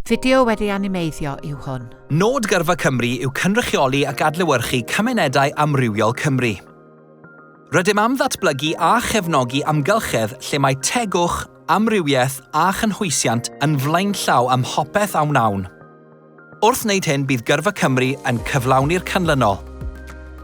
Fideo wedi animeiddio yw hwn. Nod Gyrfa Cymru yw cynrychioli ac adlewyrchu cymunedau amrywiol Cymru. Rydym am ddatblygu a chefnogi amgylchedd lle mae tegwch, amrywiaeth a chynhwysiant yn flaenllaw ym mhopeth a wnawn. Wrth wneud hyn bydd Gyrfa Cymru yn cyflawni'r canlynol.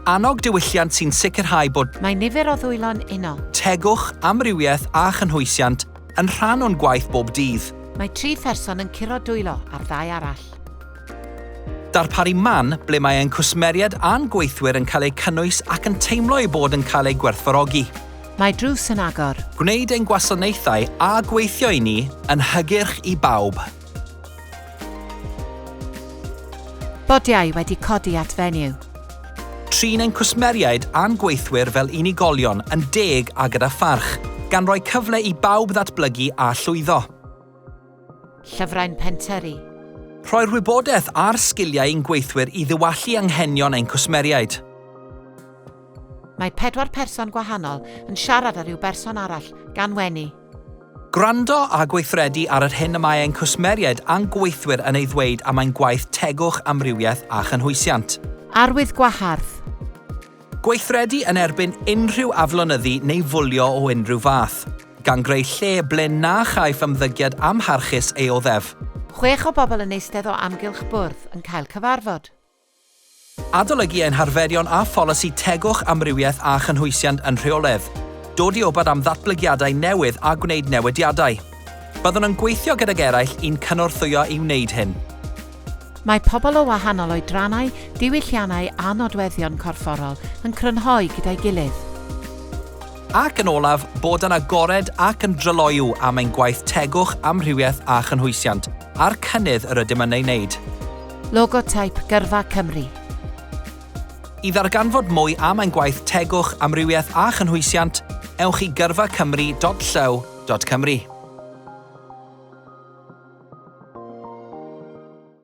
Annog diwylliant sy'n sicrhau bod. Mae nifer o ddwylo'n unol. Tegwch, amrywiaeth a chynhwysiant Yn rhan o'n gwaith bob dydd. Mae tri pherson yn curo dwylo ar ddau arall. Darparu man ble mae ein cwsmeriaid a'n gweithwyr yn cael eu cynnwys ac yn teimlo eu bod yn cael eu gwerthfawrogi. Mae drws yn agor. Gwneud ein gwasanaethau a gweithio i ni yn hygyrch i bawb. Bodiau wedi codi at fenyw. Trin ein cwsmeriaid a'n gweithwyr fel unigolion, yn deg a gyda pharch, gan roi cyfle i bawb ddatblygu a llwyddo. Llyfrau'n pentyrru. Rhoi'r wybodaeth a'r sgiliau i'n gweithwyr i ddiwallu anghenion ein cwsmeriaid. Mae pedwar person gwahanol yn siarad â rhyw berson arall, gan wenu. Gwrando a gweithredu ar yr hyn y mae ein cwsmeriaid a'n gweithwyr yn ei ddweud am ein gwaith tegwch, amrywiaeth a chynhwysiant. Arwydd gwahardd. Gweithredu yn erbyn unrhyw aflonyddu neu fwlio o unrhyw fath, gan greu lle ble na chaiff ymddygiad amharchus ei oddef. Chwech o bobl yn eistedd o amgylch bwrdd yn cael cyfarfod. Adolygu ein harferion a pholisi tegwch amrywiaeth a chynhwysiant yn rheoledd, dod i wybod am ddatblygiadau newydd a gwneud newidiadau. Byddwn yn gweithio gydag eraill i'n cynorthwyo i wneud hyn. Mae pobl o wahanol oedrannau, diwylliannau a nodweddion corfforol yn crynhoi gyda'i gilydd. Ac yn olaf, bod yn agored ac yn dryloyw am ein gwaith tegwch amrywiaeth a chynhwysiant, a'r cynnydd yr ydym yn ei wneud. Logoteip Gyrfa Cymru. I ddarganfod mwy am ein gwaith Tegwch, Amrywiaeth a Chynhwysiant, ewch i gyrfacymru.llyw.cymru.